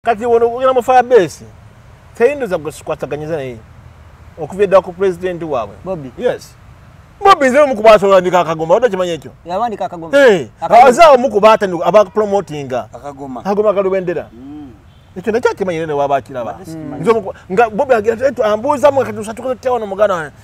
kati wono ogenda mu fabeesi teyindoza gwe sikwataganyiza naye okuva eddala ku pulezidenti waabwe bobi yes bobi nze omu kuba asobolandika akagoma odda kimanya ekyo yawandika akagoma aze omu kuba atani abapromotinga akagoma akagoma kalubendera mm. ekyo nakyo akimanyire newaba akiraba mm. nga bobi agira ambuuzamu kati usatukotewa nomugana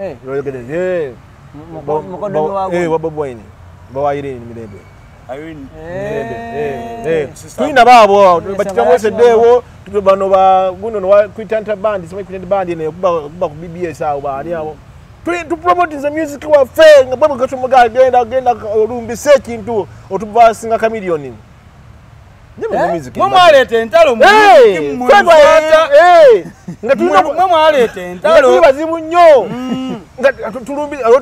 Eh. Oyogede ye. Mukodo wa wa. Eh, wa bobo ini. Ba wa irini mirebe. Irini. Eh. Eh. Tuina ba bo, batika mo se dewo, tuko bano ba guno no wa kwitanta band, sema kwitanta band ne kuba kuba ku BBS awo ba ali awo. Tuli tu promote the music wa fe, ngabo gacho mga genda genda olumbi se kintu, otuba singa chameleon. mwemwaleeta entalo mwemwaleeta entalo bazibu nnyo mm.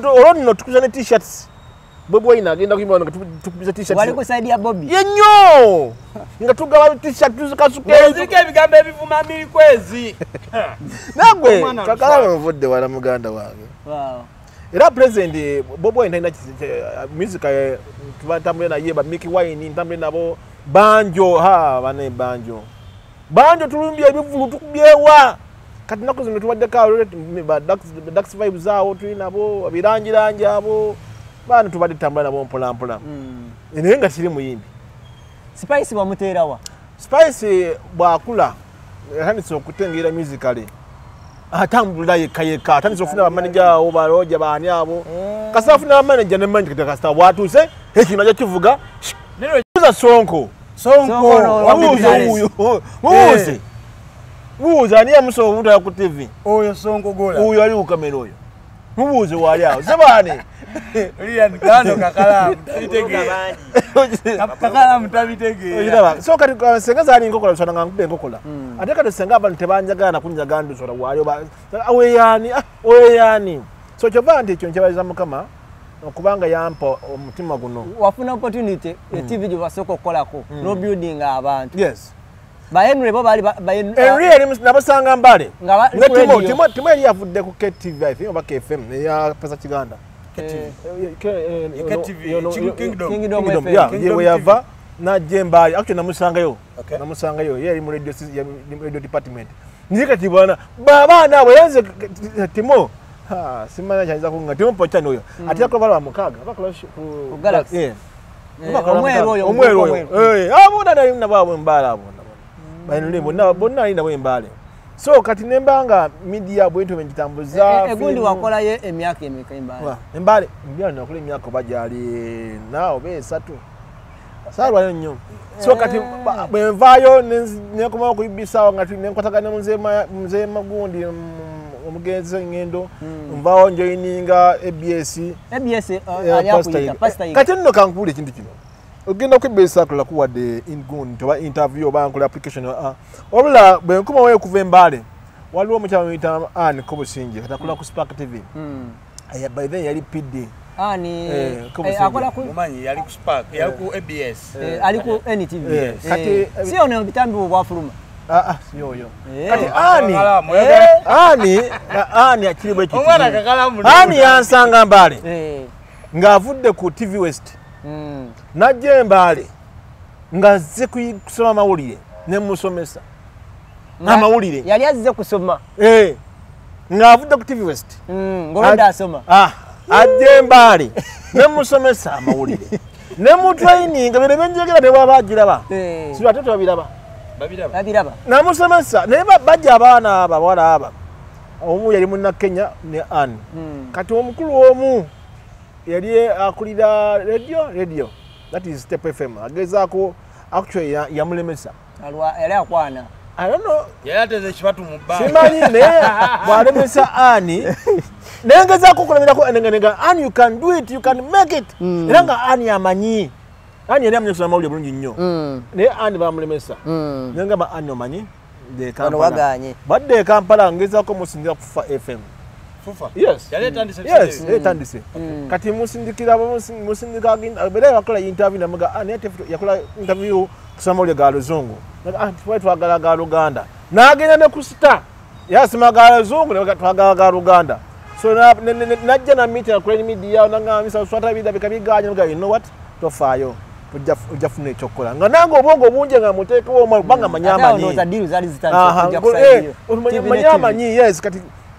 olwo nno tukuza ne t-shirts bobi wine agenda kuyimba nga tukubiza t-shirt wali ku side ya bobi ye nnyo nga tugaba t-shirt tuzikasukeeziriko ebigambo ebivuma mikwezi nagwe kakala wavudde wala muganda wange era president eh, bobo wine talina eh, music eh, ntambule naye ba miki wine ntambule nabo banjo ha bane banjo banjo tulumbye ebivulu tukubyewa kati naku zino tubaddeko dax vibes awo tuli nabo abirangirangi abo baana tubadde tutambula nabo mpolampola hmm. naye nga kiri muyimbi spice bamuteerawa spice bwakula atandise okutengera musically atambulira yekka yekka atandise okufuna bamaneja awo baloja baani abo mm. kasita afuna bamaneja nemanyi kati kasita watuuse ekino aja kivuga uza sonko sonkomuuze muwuze ani yamusa obutala ku tv oyo sonko gola oyo ali kukamera oyo mubuuze waali awo sebaani senga zali nkokola bisana nga nkuba enkokola hmm. ate kati senga abantu tebanjagala nakunjagala ndusora waali oweyaani ah, oweyaani ah, so kyova nti ekyo nkyebaliza mukama okubanga yampa omutima guno wafuna opportunity etv hmm. gyebasooka okukolako hmm. nobuilding abantu ba Henry bo bali ba Henry yali nabasanga mbale nga timo timo timo yali yavudde ku KTV I think oba KFM ya pesa kiganda KTV KTV Kingdom Kingdom FM yeah yewe yava na jemba actually namusanga yo okay. namusanga yo yali mu radio ya radio department niye kati bwana baba na wayanze timo ha simana chanza kunga timo pocha noyo mm. atira kwa bala wa mukaga bakula ku galaxy yeah. omweru oyo omweru oyo eh abona nali na babo mbala abona bali nuli bonna bonna nali nabo embale so kati nembanga media bwento benjitambuza e, e, egundi wakola ye emyaka emeka embale wa embale mbya na kule emyaka bajali nao be satu sarwa nyo so kati eh. bwenvaayo nekomawo kuibisaawo nga nenkwatagana mzee magundi omugenzi engendo hmm. nvawo njoininga abs eh, eh, kati nno kankuula ekintu kino ogenda kwibisakula kuwadde ingun toba interview oba nkola application ah, ah. wabula bwenkomawo okuva embaale waliwo omukyala muyita an kobusingi kati akula ku spark tv hmm. aya by then yali pd ani eh, eh, akola ku mumanyi yali ku spark eh. yali ku abs ali ku ntv kati si ono bitambi bwafuluma ah, ah, yoyo kati ani ani ani akiri bwe kiti ani yansanga mbale ng'avudde ku tv west hmm. najja embaale nga azze kusoma amawulire ne musomesa amawulire yali azze kusoma eh, ng'avudde ku tv west mm, ngobadde asoma ah, ajja embaale ne musomesa amawulire ne mutraininga bino byenjogera ne bwaba agiraba eh. siba ate tebabiraba babiraba namusomesa naye bajja abaana abo abawala aba omu yali muna kenya ne an hmm. kati omukulu omu yali akulira radio radio that is step fm agezaako actually yamulemesa ya alwa yali akwana I don't know. Yaya teze chibatu mubaya. Simani ne wale mesa ani. Nenga za kukula mina kwa nenga nenga ani you can do it you can make it. Mm. Nenga ani amanyi. Ani yale mnyo suna mauli mnyo nyo. Mm. Ne ani ba mle mesa. Mm. Nenga ba ani amanyi. De kampala. Wano waga anyi. Bade kampala ngeza kwa musindia kufa FM. fufa yes yale tandise yes mm. tandise mm. kati musindikira musindika agenda bela yakola interview na mga ani ah, ate yakola interview kusama ule galo zungu na ah twa twa galo galo ganda na agenda ne kusita yasima galo zungu na twa galo galo ganda so na na jana meet na crane media na ngami sa swata bida bikabi ganya mga you know what to fayo ojafuna ekyokukola nga nange obwongo bungi nga muteekewo omubanga manyi amanyi eh, manyi amanyi yes kati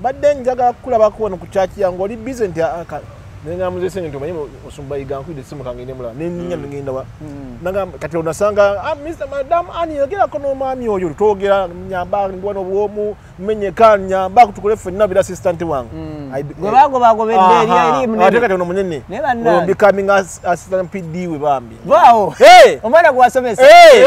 mbadde njagala kukulabako wano ku kyaki yange oli bize nti ah, ah, nengamuzese nti omanyi osumba igankwide simu kange nemulaba neninya mm. nigenda wa mm. nagamba kati onasanga ah, mr madam ani yogerako n'omwami oyo twogera nyamba ndiwa n'obwomu menyeka nyamba kutukole ffenna bira assistant wange mm. gwebagobagobedderieriate kati ono munene becoming assistant pd we bambi Vaawo. Hey. Omwana gwe wasomesa. Hey.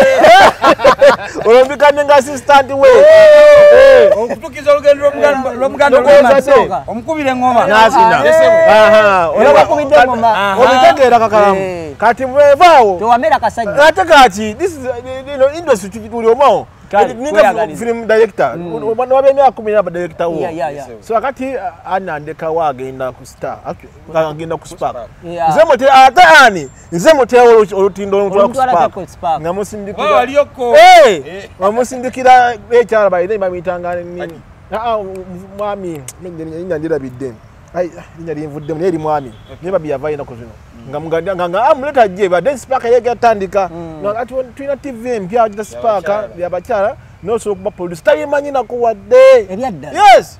Olwo mbikanye nga assistant we. Hey. Okutukiza olugendo lw'omuganda lw'omuganda lw'omuganda. Omukubire ngoma. Nasina. Aha. Olwo bakubidde ngoma. Obitegeera kakalamu. Eh. Kati mwe vaawo. Tewamera kasajja. Ate kati this is you know industry tuli omawo. Ninga film director. Mm. Wabenya akumira ba director wo. So akati uh, anandeka wa agenda ku star. Actually nga ngenda ku spark nze mute ate ani nze mute olutindo olutwala ku spark nga musindikira waliyo ko eh nga musindikira ekyara bayine bamitanga nini ah mwami mende nyinga ndira bidden ai nyinga limvudde mu yeri mwami ne babi yavaye na kuzino nga muganda nga nga amuleta je ba den spark yega tandika mm. nga ati twina tv mpya ajita spark ya bachara no so kuba producer tayimanyi na kuwa de ebyadda yes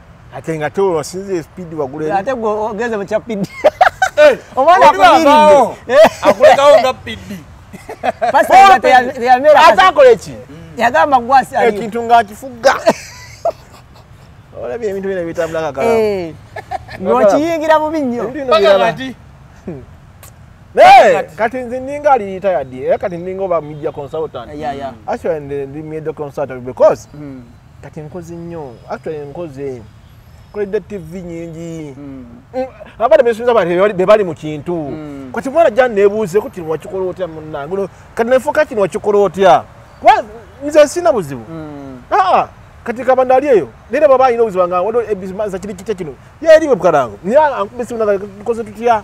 ate nga te wasinza espidi wagulaate ogeze mukya pidi eh, omwana akumiride eh. akulekawo nga pidi atakola eki yagamba gwasi ekintu nga akifuga olabye ebintu bino bitambulakakala eh. ngokiyingira bubi nnyo Hey, kati nze ninga ali retired. Eh, kati ninga oba media consultant. Yeah, yeah. Actually, ndi media consultant because mm. kati nkozi nnyo actually nkoze koledde tv nyingi hmm. mm, abana besinza bali bebali mu kintu mm. kati mwana ja nebuuze ko kino wakikola otya munange no kati nefuka kino wakikola otya kwa nze sina buzibu mm. ah kati kaba ndali eyo nere baba ino uziba nga wado ebizima za kiri kitya kino yeri bwe bkarango ni ankubisi unanga koze tutya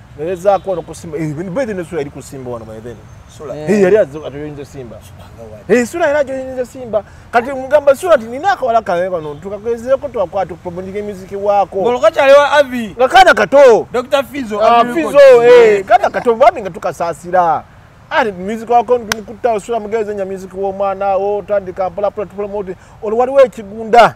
Nezaako ono kusimba. Eh, Bwezi ne sula yali kusimba wano by then. Sula. Eh, eh yali atoyinze simba. Eh, sula yali atoyinze simba. Kati mugamba sula ti nina akawala kawe bano tukakwezera ko twakwata promoting emiziki wako. Bolo kacha lewa Avi. Nakana kato. Dr. Fizo. Ah, Fizo eh. Kana kato bami nga tukasasira. Ari music wako ndumukuta sula mugeze nya music wo mwana wo tandika pala pala promote. Olwali we kigunda.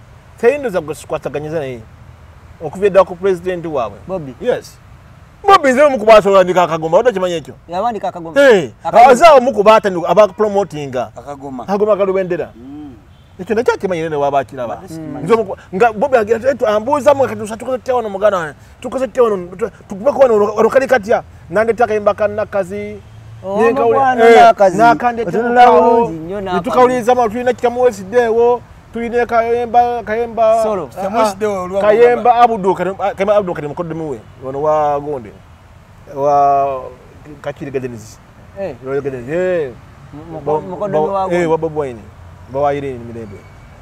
teyindoza gwe sikwataganyiza naye okuva eddala ku pulezidenti waabwe bobi yes bobi nze omu kuba asobolandika akagoma odda kimanya ekyo yawandika akagoma aze omu kuba atani aba promotinga akagoma akagoma kalubendera mm. ekyo nakyo akimanyire ne waba akiraba nga bobi ambuuza mu kati tukoze tutya wano muganda wange tukoze tutya wano tukubeko wano olukali katya nandeta akayimba kanakazi nakandetatukawuliriza ma tulina kitamuwesiddeewo tuine kayemba kayemba solo ah, semusi de olwa kayemba abudu kayemba abudu kadi mukodde muwe ono wa gonde wa kakiri gadenizi eh royo gadenizi eh mukodde wa eh wa bobo ini bawa ire ni mirembe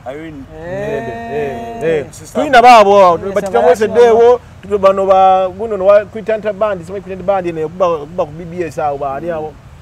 ayini mirembe eh eh, eh. tuina babo batikamwese dewo tudo bano ba guno wa kwitanta bandi sema kwitanta bandi ne kuba kuba ku bbs awo ba ali awo mm.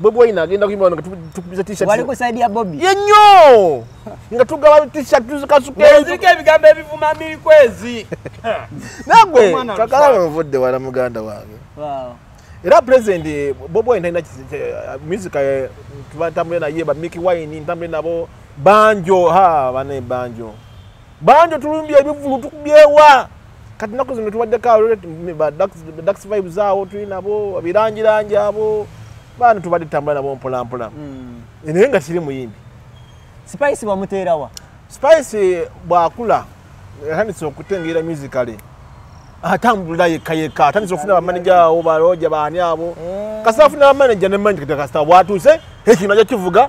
Bobi Wine agenda kuyimba wano nga tukubiza t-shirt. Wali ku side ya Bobi. Ye nnyo! Nga tugaba t-shirt tuzikasuke. Eziriko ebigambo ebivuma mikwezi. Nagwe kakala nvudde wala muganda wange. Wow. Era president eh, Bobi Wine talina eh, music eh, tubantambule naye ba Mickey Wine ntambule nabo banjo ha bane banjo. Banjo tulumbye ebivulu tukubyewa. kati naku zino tubaddeko abadax vibes awo tuli nabo abirangirangi abo baana tubadde tutambula nabo mpolampola hmm. naye nga kiri muyimbi spice bamuteerawa spice bwakula atandise okutengeera musicale atambulira yekka yekka atandise okufuna bamaneja awo baloja baani abo hmm. kasita afuna bamaneja nemanyikita kasita bwatuuse ekino aja kivuga